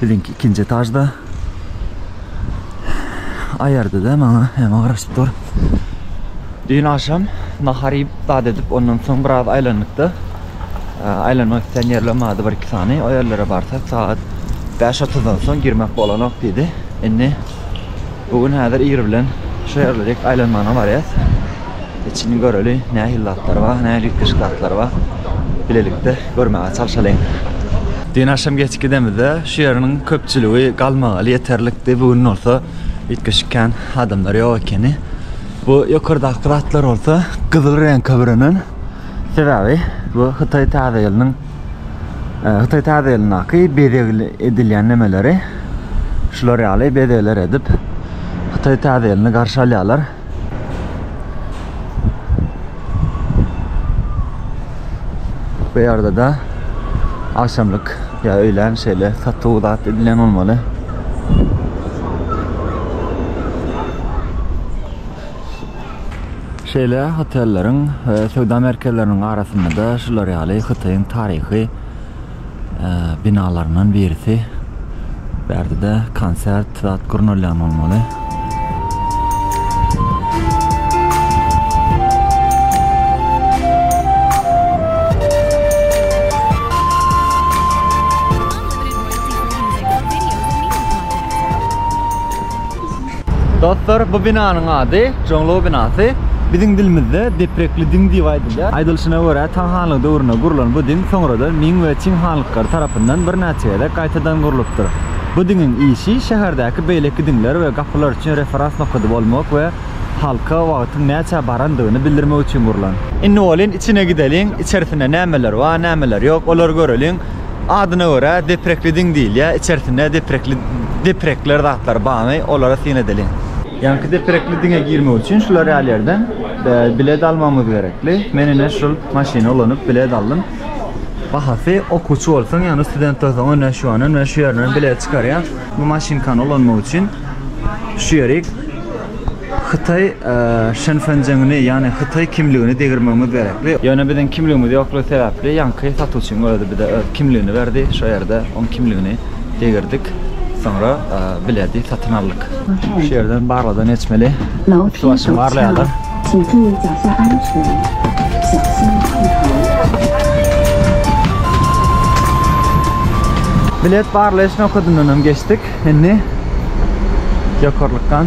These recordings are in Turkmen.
Biziňki ikinji etažda. Aýardy-da maňa, emma garaşyp dur. Düýn agşam nahar iýip, zat edip, ondan soň biraz aýlandyk-da. Aýlanmak isleýän ýerler bardy bir-iki sany. O ýerlere barsak, sagat bäş otuzdan soň girmek bolanok diýdi. Indi. Bu gün häzir Iri bilen şu ýerlerik aýlanmagyna barýas. Içini göreli, nähili zatlar bar, nähili üýtgeşik zatlar bar. Bilelikde görmäge çalşalyň. Düýn agşam geç gidemizde şu ýeriniň köpçüligi galmagaly ýeterlikdi. Bu gün bolsa üýtgeşik kän adamlar ýok ekeni. Bu ýokardaky zatlar bolsa gyzyl reňke bürenen. Sebäbi bu Hytaý täze ýylynyň Hytaý täze ýylyndaky bezeg edilýän nemeleri şular ýaly bezegler edip Hytaý täze ýylyny garşy alýarlar. Bu ýerde de agşamlyk ýa öýlän şeýle satuw zat edilen bolmaly. Şeýle hotelleriň we söwda merkezleriniň arasynda-da şular ýaly Hytaýyň taryhy binalaryndan birisi. Bu ýerde-de konsert zat gurnalýan bolmaly. Dostlar bu binanyň ady Joňlow binasy. Biziň dilimizde Deprekli diň diýip aýdylýar. Aýdylyşyna görä Taň hanlygy döwründe gurulan bu diň soňradan Ming we Çing hanlyklary tarapyndan birnäçe gezek gaýtadan gurlupdyr. Bu diňiň işi şäherdäki beýleki diňler we gapylar üçin referans nokady bolmak we halka wagtyň näçä barandygyny bildirmek üçin gurlan. Indi bolýn içine gideliň, içerisinde nämeler bar, nämeler ýok olary göreliň. Adyna görä deprekli diň diýilýär. Içersinde deprekli deprekler zatlar barmy, olara syn edeliň. Ýaňky deprekli diňe girmek üçin şular ýaly ýerden bilet almagymyz gerekli. Men ine şul maşyny ulanyp bilet aldym. Bahasy okuwçy bolsaň, ýagny student bolsaň ine şuandan we şu ýerden bilet çykarýar. Bu maşynkany ulanmak üçin şu ýerik Hytaý Şenfenjengini, ýagny hytaý kimligini degirmegimiz gerekdi. Ýöne biziň kimligimiz ýoklugy sebäpli ýaňky satuwçyň özi bize öz kimligini berdi, şo ýerde oň kimligini degirdik, soňra bileti satyn aldyk. Şu ýerden barladan geçmeli. Üstibaşym barlaýarlar. Bilet barlaýyş nokadyndanam geçdik. Indi ýokarlykdan.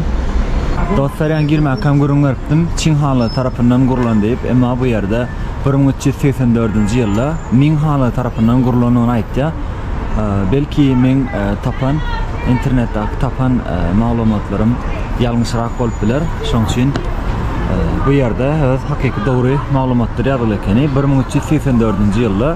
Dostlar ýan girmäkäm gürrüň beripdim Çin hanlary tarapyndan gurlan diýip emma bu ýerde bir müň üç ýüz segsen dördünji ýylda Ming hanlary tarapyndan gurlandygyny aýtýar belki meň tapan internetdaky tapan maglumatlarym ýalňyşrak bolup biler şoň üçin bu ýerde öz hakyky dogry maglumatdyr ýazgyly ekeni bir müň üç ýüz segsen dördünji ýylda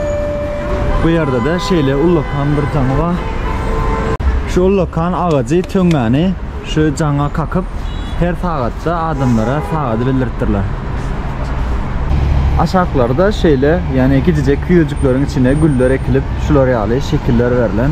Bu ýerde-de şeýle ullakan bir jaňy bar. Şu ullakan agajy töňňäni şu jaňa kakyp, her sagatda adamlara sagady bildiripdirler. Aşaklary-da şeýle, ýagny gijijek küýejikleriň içine güller ekilip, şular ýaly şekiller berlen.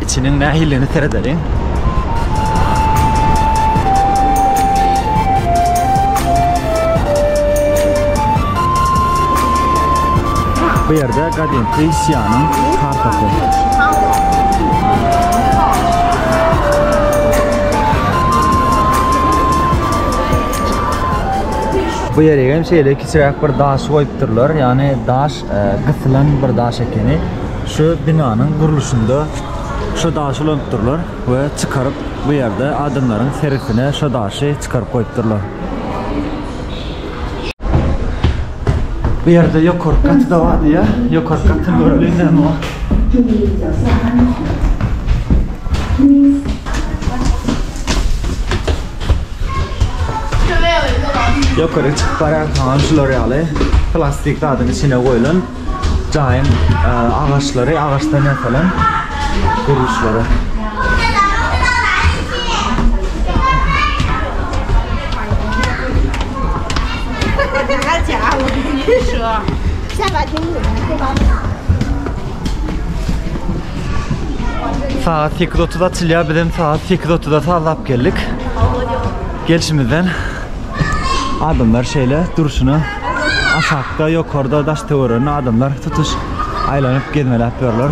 Içiniň nähilidigine seredeliň. Bu ýerde gadymky Sianyň kartasy. Bu ýeregem şeýle kiçiräk bir daş goýupdyrlar, ýagny daş gysylan bir daş ekeni. Şu binanyň gurluşynda şu daşy ulanypdyrlar we çykaryp bu ýerde adamlaryň seresine şu daşy çykaryp goýupdyrlar. Bu ýerde ýokarky gaty-da bar diýýär. Ýokarky gaty göreliň näme bar. Ýokary çykyp barýarkaňam şular ýaly plastik zadyň içine goýlan jaýyň agaçlary, agaçdan ýasalan gurluşlary. Şu. Şabat Saat 8.30 açylýar, biz hem saat 8.30-a sazlap geldik. Gelşimizden adamlar şeýle durşuna aşakda, ýokarda, daş töweregi adamlar tutuş aýlanyp gezmeläp ýörler.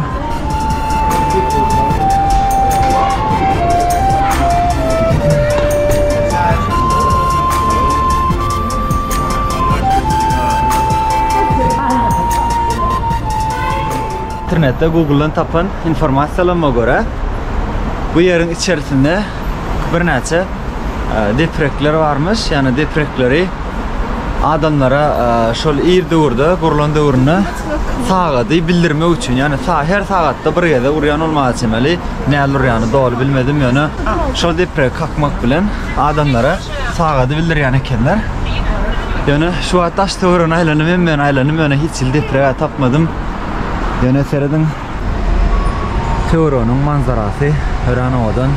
Internetde Google-dan tapan informasiýalama görä, bu ýeriň içerisinde birnäçe deprekler barmyş, ýagny deprekleri adamlara şol ir döwürde gurlan döwründe sagady bildirmek üçin, ýagny her sagatda bir gezek urýan bolmaga çemeli, näl urýany doly bilmedim, ýöne şol depregi kakmak bilen adamlara sagady bildirýän ekenler. Ýöne şu wagt daş töweregi aýlanym, hemmäni aýlanym, ýöne hiç hili depreg tapmadym. Ýöne serediň Töwereginiň manzarasy örän owadan.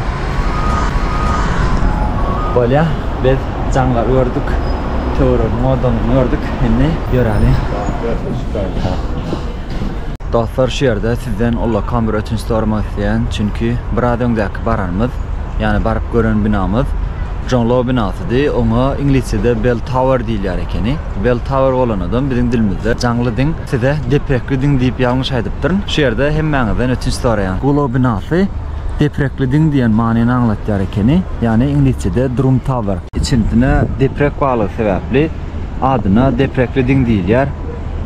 Bolýa biz jaňlary gördük, töweregiň owadanlygyny gördük, indi ýöräli. Dostlar şu ýerde sizden ullakan bir ötünç soramak isleýän, çünki biraz öňdäki baranymyz, ýagny baryp gören binamyz Jonglou binasydy, oňa iňlisçede Bell Tower diýilýär ekeni. Bell Tower bolanadam biziň dilimizde jaňly diň size deprekli diň diýip ýalňyş aýdypdyryn. Şu ýerde hemmäňizden ötünç soraýan. Gulaw binasy deprekli diň diýen manyny aňlatýar ekeni, ýagny iňlisçede Drum Tower. Içindine deprek barlygy sebäpli adyna deprekli diň diýilýär.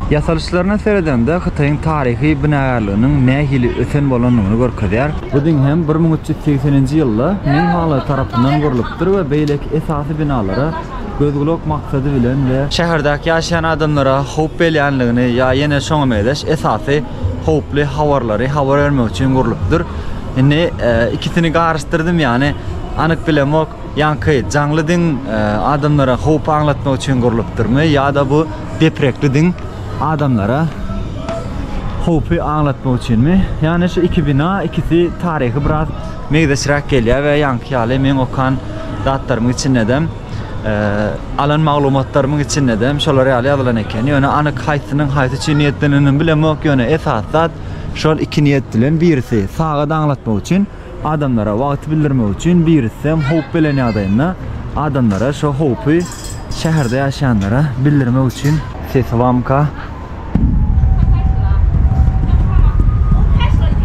Ýasalyşlaryna seredende Hytaýyň taryhy binagärliginiň nähili ösen bolandygyny görkezýär. Bu diň hem bir müň üç ýüz segseninji ýylda Ming Haly tarapyndan gurlupdyr we beýleki esasy binalara, Göz-gulak maksady bilen we. Şäherdäki ýaşaýan adamlara howp belýänligini ýa ýene şoňa meňzeş esasy howply habarlary habar bermek üçin gurlupdyr. Indi ikisini garyşdyrdym ýany anyk bilemok ýaňky jaňly diň adamlara howpy aňlatmak üçin gurlupdyrmy ýa-da bu deprekli diň adamlara howpy aňlatmak üçinmi ýany şu iki bina ikisi taryhy biraz Meýzeçräk gelýär we ýaňky ýaly meň okan zatlarymyň içindedem, alan maglumatlarymyň içindedem şolar ýaly ýazylan eken. Ýöne anyk haýsynyň haýsy üçin niýetlenenini bilemok, ýöne esasy zat şol iki niýet bilen birisi saga daňlatmak üçin, adamlara wagty bildirmek üçin, birisem howp gelen ýagdaýynda adamlara şo howpy şäherde ýaşaýanlara bildirmek üçin. Sesibamyka?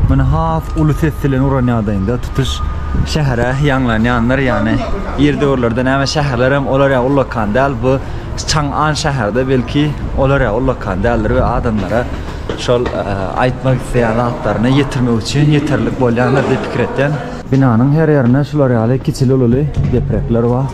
Men has uly ses bilen uran ýagdaýynda tutuş şähere ýaňlan ýanlar ýany ýer döwürlerde näme şäherler hem olar ýa ullakan däl bu çaň an şäherde belki olar ýa ullakan däldir we adamlara şol e, aýtmak isleýän zatlaryny ýetirmek üçin ýeterlik bolýandyr diýip pikir etýän binanyň her ýerinde şular ýaly kiçili ululy deprekler bar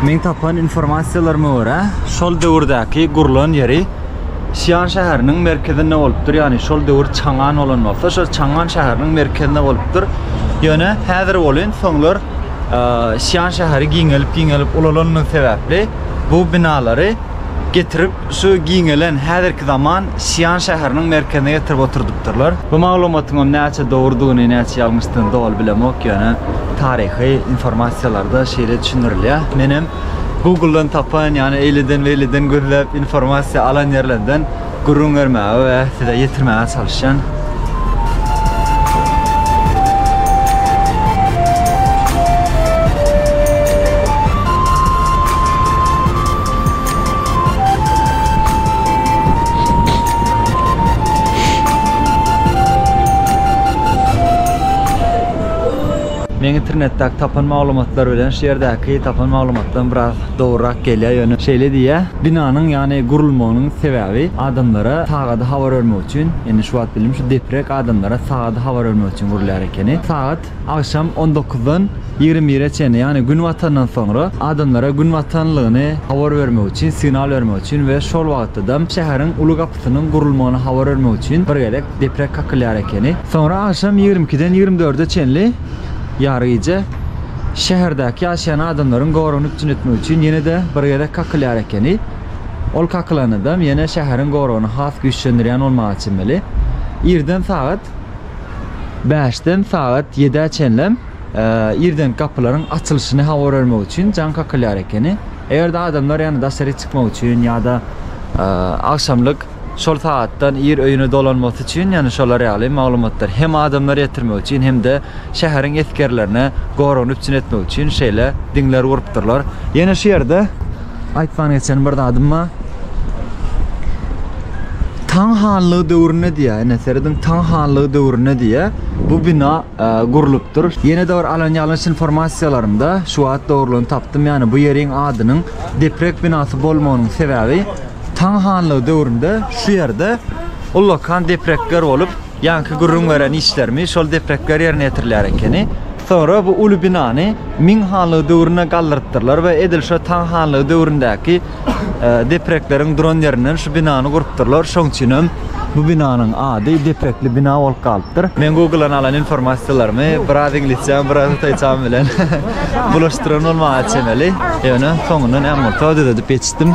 Meň tapan informasiýalaryma görä, şol döwürdäki gurlan ýeri Sian şäheriniň merkezinde bolupdyr. Ýagny şol döwür Çangan bolan bolsa, şol Çangan şäheriniň merkezinde bolupdyr. Ýöne häzir welin soňlar Sian şäheri giňelip-giňelip ulalandygy sebäpli bu binalary getirip, şu giňelen häzirki zaman Sian şäheriniň merkezine getirip oturdypdyrlar. Bu maglumatyňam näçe dogrudygyny, näçe ýalňyşdygyny doly bilemok, ýöne taryhy informasiýalarda şeýle düşündirilýär. Menem Google-dan tapan, ýagny eýleden-beýleden gözläp informasiýa alan ýerlerden Gürrüň bermäge we size ýetirmäge çalyşýan. Men internetdäki tapan maglumatlar bilen şu ýerdäki tapan maglumatdan biraz dogrurak gelýär, ýöne şeýle diýýär, Binanyň ýany gurulmagynyň sebäbi adamlara sagady habar bermek üçin, ýöne şu wagt bildim şu deprek adamlara sagady habar bermek üçin gurulýar ekeni. Sagat agşam on dokuzdan ýigrimi bire çenli, ýagny gün batandan soňra adamlara gün batanlygyny habar bermek üçin, signal bermek üçin we şol wagtadam şäheriň uly gapysynyň gurulmagyny habar bermek üçin bir gezek deprek kakylýar ekeni. Soňra agşam ýigrimi ikiden ýigrimi dörde çenli ýary gije. şäherdäki ýaşaýan adamlaryň goragyny üpjün etmek üçin ýene-de bir gezek kakylýar ekeni. Ol kakylanydam ýene şäheriň goragyny has güýçlendirýän bolmaga çemeli. Irden sagat bäşden sagat ýedä çenlem irdenki gapylaryň açylyşyny habar bermek üçin jaň kakylýar ekeni. Eger-de adamlar ýa-da daşaryk çykmak üçin ýa-da agşamlyk şol sagatdan ir öýüne dolanmasy üçin, ýagny şolar ýaly maglumatlary hem adamlara ýetirmek üçin, hem-de şäheriň esgerlerine goragyny üpjün etmek üçin şeýle diňler gurupdyrlar. Ýene şu ýerde aýtman geçen bir zadym bar. Taň hanlygy döwründe diýýär, ine, serediň, Taň hanlygy döwründe diýýär, bu bina gurlupdyr. Ýene-de bir alan ýalňyş informasiýalarymda şu wagt dogrulygyny tapdym, ýagny bu ýeriň adynyň deprek binasy bolmagynyň sebäbi, Tang hanlygy döwründe şu ýerde ullakan deprekler bolup, ýaňky gürrüň beren işlerimi şol deprekler ýerine ýetirilýär ekeni. Soňra bu uly binany Ming hanlygy döwründe galdyrypdyrlar we edil şo Tang hanlygy döwründäki deprekleriň duran ýerinden şu binany gurupdyrlar. Şoň üçin hem bu binanyň ady Deprekli bina bolup galypdyr. Men Google-dan alan informasiýalarymy biraz iňlisçäm, biraz hytaýçam bilen bulaşdyran bolmaga çemeli, ýöne soňundan äm bolsa düzedip ýetişdim.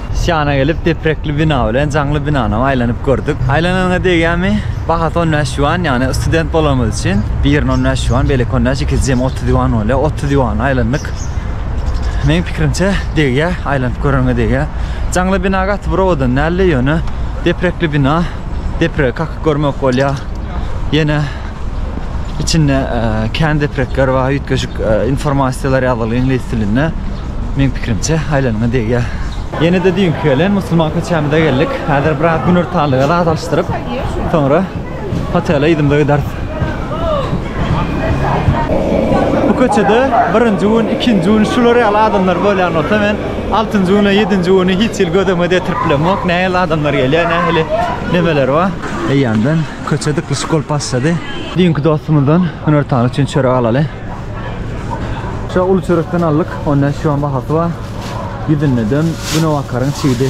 Syýana gelip deprekli bina bilen jaňly binanam aýlanyp gördük. Aýlananyňa degýärmi? Bahasy on bäş ýuan, ýagny student bolanymyz üçin birini on bäş ýuan, beýleki on bäş, ikisi jemi otuz ýuan bolýar. Otuz ýuana aýlandyk. Meniň pikirimçe degýär, aýlanyp göreniňe degýär. Jaňly bina gaty bir owadan däldi, ýöne deprekli bina, depregi kakyk görmek bolýar. Ýene içinde kän deprekler bar, üýtgeşik informasiýalar ýazylyp iňlis dilinde. Meň pikirimçe, aýlanyňa degýär. Ýene-de düýnki gelen musulman köçämize geldik. Häzir biraz günortanlyga zat alyşdyryp, soňra hotele yzymyza gideris. Bu köçede birinji gün, ikinji gün şular ýaly adamlar bolýan bolsa, men altynjy gün we ýedinji güni hiç hili göz öňüme getirip bilemok. Nähili adamlar gelýär, nähili nemeler bar. Eýýämden Köçe dyklyşyk bolup başlady. Düýnki dostumyzdan hünär tany üçin çörek alaly. Şu uly çörekden aldyk. 10 näçe ýüan bahasy bar. Ýüzünde dön, güne bakaryň çigidi.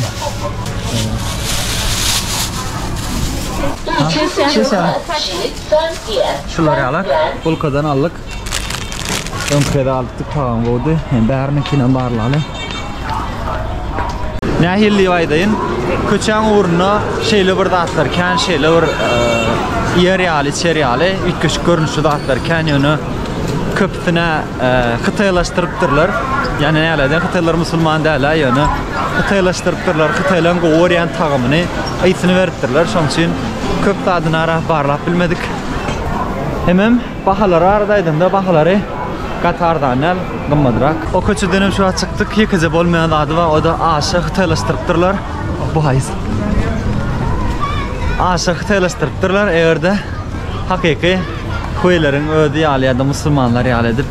Şular ýaly bulkadan aldyk. Öňki gezek alypdyk tagam boldy. Hem bärininkinem barlaly. Nähili diýip aýdaýyn? Köçäň ugrunda şeýle bir zatlar kän, şeýle bir iýer ýaly, içer ýaly üýtgeşik görnüşli zatlar kän, ýöne köpüsine hytaýlaşdyrypdyrlar. Ýani näledir? Hytaýlar musulman däl-ä, ýöne hytaýlaşdyrypdyrlar. Hytaýlaryň gowy görýän tagamyny ysyny beripdirler. Şonuň üçin köp zadyny arap barlap bilmedik. Hemem Bahalar barada aýdanda bahalary gaty arzan däl, gymmadrak. O köçeden hem şu wagt çykdyk, ýekeje bolmaýan zady bar, o-da aşa hytaýlaşdyrypdyrlar. Bu haýsy? Aşa hytaýlaşdyrypdyrlar, eger-de hakyky hueýleriň özi ýaly ýa-da musulmanlar ýaly edip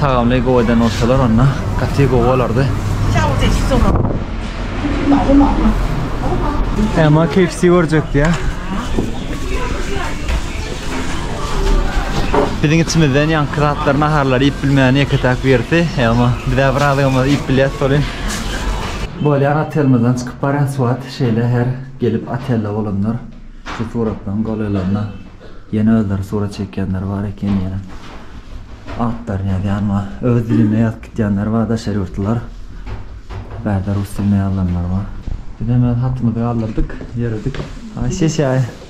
tagamly gowy eden bolsalar, onda gaty gowy bolardy. Emma KFC görjekdi ýa. Biziň içimizden ýaňky zatlar naharlary iýip bilmeýän ýeke-täk birisi. Emma biz bir azygymyzy iýip bilýäs solin. Bolýar otelmizden çykyp barýan suwat şeýle her gelip otelde bolanlar şu suratlaryň golaýlarynda ýene özleri surat çekýänler bar eken ýene atlaryny ýazýan bar öz dilinde ýazyp gitýänler bar daşary ýurtlular bärde rus dilinde ýazylanlar bar bizem öz hatymyzy galdyrdyk ýöredik aý sesiýaý.